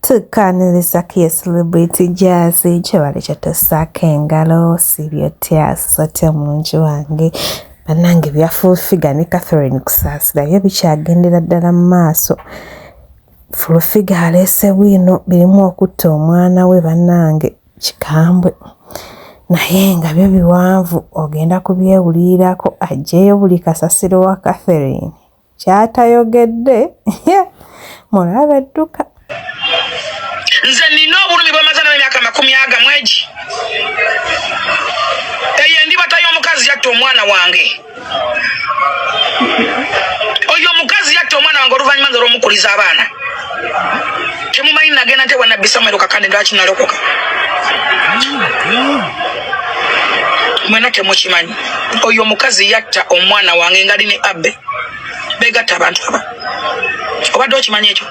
tukaaniriza ku ye celebrity jaazi kyebale kyatusaako engalo sibyotya sisotya omungi wange banange byafuufiga ne catherine kusaasira byo bikyagendera ddala mu maaso fulufiga aleese bwino birimu okutta omwana we banange kikambwe naye nga byo biwanvu ogenda kubyewuliirako ajjeyo buli kasasiro wa catherine kyatayogedde mulabe dduka nze nina obulumi bwemaze nawe emyaka makumi aga mwegi eyo endibata y'omukazi yatta omwana wange oyo omukazi yatta omwana wange oluvannyuma nze olwomukuliza abaana temumanyi nagenda nte wanabbi samuel kakande lwaki nalokoka mwena temukimanyi oyo omukazi yatta omwana wange ngali ne abbe begatta abantu aba obadde okimanyi ekyo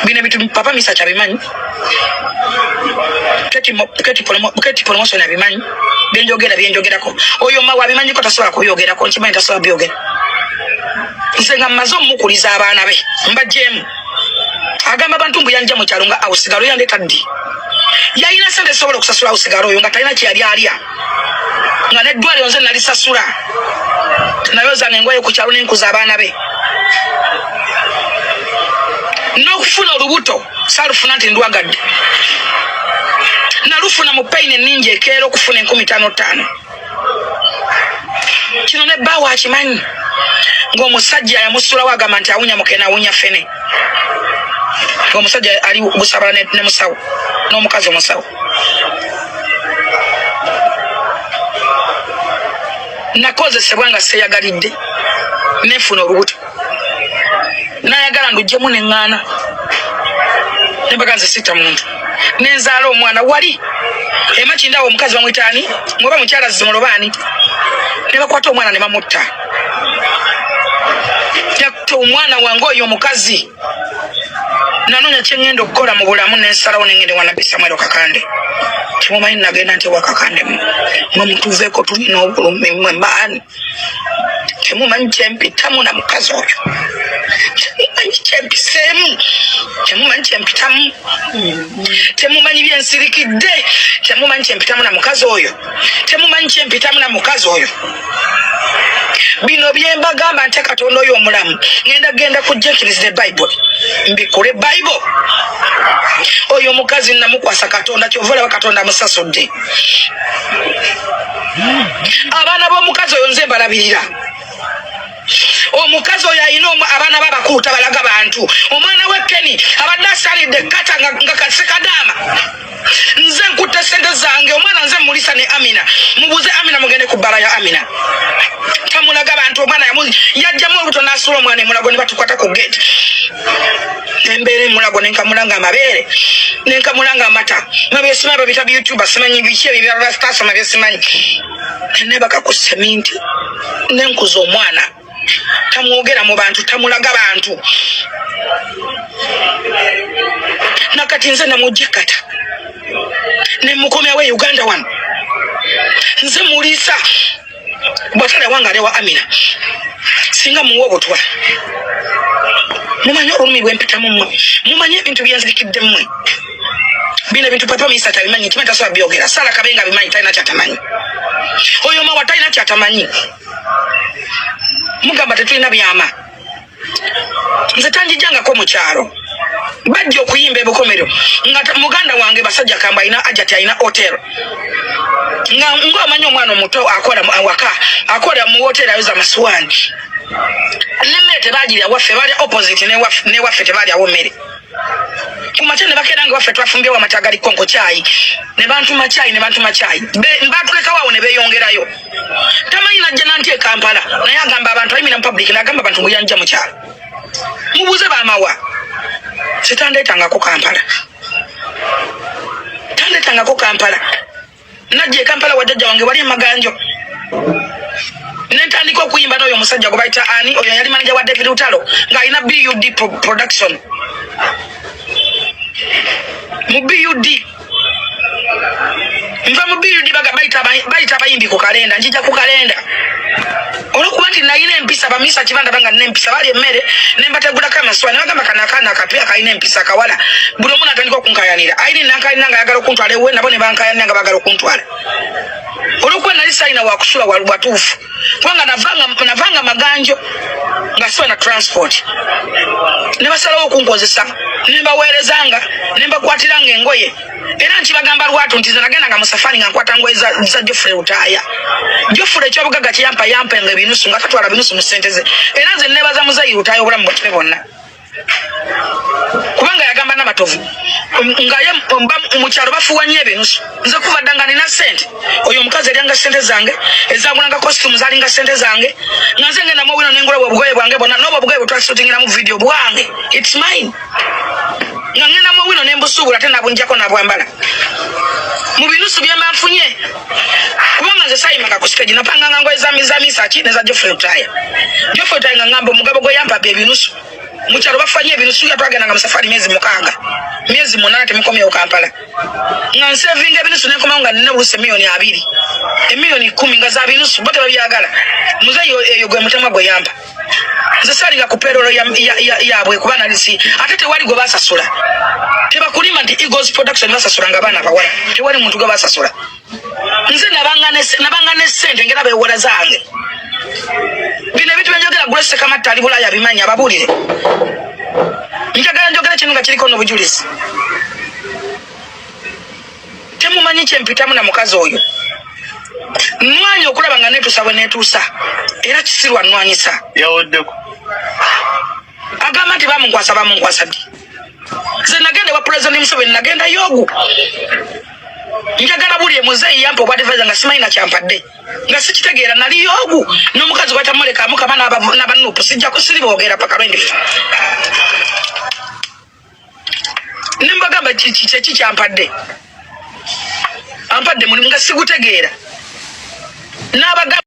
bino bitu papa misa kyabimanyi keti promotion abimanyi byenjogera byenjogerako oyo mawe abimanyiko tasobola kubyogerako nkimanyi tasobola byogera nze nga mmaze omukuliza abaana be mbajemu agamba abantu mbu yanja mukyalo nga awo sigalo yandeta ddi yalina sente zisobola okusasula awo sigalo oyo nga talina kyeyali alya nga neddwaliro nze nalisasula nayo zanga engoye ku kyalo nenkuza abaana be n'okufuna olubuto salufuna nti ndwagadde nalufuna mu payini eningi ekeera okufuna enkumi tano tano kino ne bbaawo akimanyi ng'omusajja yamusulawo agamba nti awunya mukene awunya fene ng'omusajja ali busabala ne musawo n'omukazi omusawo nakozesebwa nga seyagalidde nefuna olubuto nayagala ndujjemu neŋŋaana nembaga nze sitta muntu nenzaala omwana wali emakindawo omukazi bamwitaani ngoba mukyala zimolobaani nebakwata omwana nebamutta yakuta omwana wange oyo omukazi nanonya kyengenda okukola mu bulamu nensalawo nengende wanabbi samwero kakande kimumanyi nagenda nti wakakande mwe mutuveko tulina obulumi mwe maani temumanyi kyempitamu na mukazi oyo temumanyi kyempiseemu temumanyi kyempitamu temumanyi byensirikidde temumanyi kyempitamu na mukazi oyo temumanyi kyempitamu na mukazi oyo bino byembagamba nte katonda oyo omulamu ngenda genda kujekiriza ebayibuli mbikule bayibo oyo omukazi namukwasa katonda kyova olaba katonda amusasudde abaana b'omukazi oyo nze mbalabirira omukazi oyo alina abaana babakuuta balaga bantu omwana we keni abadde asalidde kata nga kasekadaama nze nkutte sente zange omwana nze mulisa ne amina mubuze amina mugende ku bbala ya amina tamulaga bantu omwana yajjamu olubuto n'asuula omwana emulago ne batukwata ku gate nembeera emulago nenkamula nga amabeere nenkamula nga amata mabyesima babita byoutube simanyi biki ebyo byabastasoma byesimanyi nebaka ku seminti nenkuza omwana tamwogera mu bantu tamulaga bantu nakati nze namujikata nemukomyawo e uganda wano nze muliisa bwatala ewange anewa amina singa muwa obutwa mumanyi olulumi lwempitamu mwe mumanyi ebintu byenzirikidde mwe bino ebintu papa minisita tabimanyi ntima tasobola byogera sala kabenga abimanyi talina kyatamanyi oyo mawa talina kyatamanyi mugamba tetulina byama nze tanjijangako mukyalo bajja okuyimba ebukomero nga muganda wange basajja kamba alina ajati alina hotel nga ngaomanyi omwana omuto akola awaka akola mu hotel ayoza masuwani nemmere tebagirya waffe balya opposite newaffe tebalyawo mmere kumakya ne bakeera nga waffe twafumbyewo amata agaliko nkokyayi ne bantuma kyayi ne bantuma kyayi batulekawo awo ne beeyongerayo tamanyi najja nanti ekampala naye agamba abantu ayimira mupublic nagamba abantu muyanja mukyalo mubuze bamawa sitandetangako kampala tandetangako kampala najja ekampala wajajja wange wali emaganjo nentandika okuyimba noyo omusajja gwebayita ani oyo yali manaja wa david utalo ngaalina bud production mu bud nva mu biri ndi bayita abayimbi ku kalenda njija ku kalenda olwokuba nti nayina empisa bamisa kibandaba nga nina empisa bali emmere nembategulako amaswa nebagamba kana akaana akapya kalina empisa kawala buli omu natandika okunkayanira ayini nankalina nga ayagala okuntwala ewe nabo nebankayanira nga bagala okuntwala olwokuba nali salina wakusula watuufu kubanga navanga navanga maganjo nga siba na transport ne basalawo okunkozesa ne mbaweerezanga ne mbakwatiranga engoye era nti bagamba lwatu nti zenagenda nga musafari nga nkwata ngoye za, za jofre utaaya jofre ekyobugaga kiyampa yampa nga ebinusu nga tatwala binusu mu sente ze era nze nebaza muzayi utaaya obulamu bwatube bonna kubanga yagamba namatovu ngaye mukyalo bafuwa nyo ebinusu nze kuva dda nga nina sente oyo omukazi eryanga sente zange ezagulanga costume zalinga sente zange nga nze ngenda muwino nengula bwe obugoye bwange bwona noba obugoye bwetwasutingira mu video bwange its mine nga ngenda muwino nembusuubula ate nabunjako nabwambala mu binusu byemba nfunye kubanga nze sayimanga ku stage napanganga ngoye za miza misa ki neza Geoffrey Lutaya Geoffrey Lutaya nga ngamba omugabo gwe yampa bye binusu mu kyalo bafanye ebinusu ya twagenda nga musafari myezi mukaaga myezi munana temukomye ku Kampala nga nsevinga ebinusu ne koma nga nina buluse milioni abiri emilioni kumi nga za binusu bote babyagala muzeyo eyo gwe mutemwa gwe yampa nze salinga ku perolo yabwe kuba nalisi ate tewali gwe basasula tebakulima nti eagles production basasulanga abaana bawala tewali muntu gwe basasula nze nabanga ne sente ngera bewola zange bino ebintu byenjogera grace kamatta ali bulaya bimanyi ababuulire njagala njogera kino nga kiriko n'obujulizi temumanyi kyempitamu na mukazi oyo nwanya okulaba nga netuusa bwe netuusa era kisirwa nwanyisa yawoddeko agamba nti bamunkwasa bamunkwasa ddi nze nagenda ewa pulezidenti museveni nagenda yogu njagala buli emuzeeyi yampa obwadivaiza nga simanyi nakyampadde nga sikitegeera nali yogu n'omukazi bwatamulekamu kama nabanupu sijja kusiri boogera paka lwendifa nembagamba kyeki kyampadde ampadde mulimu nga sigutegeera nabagamba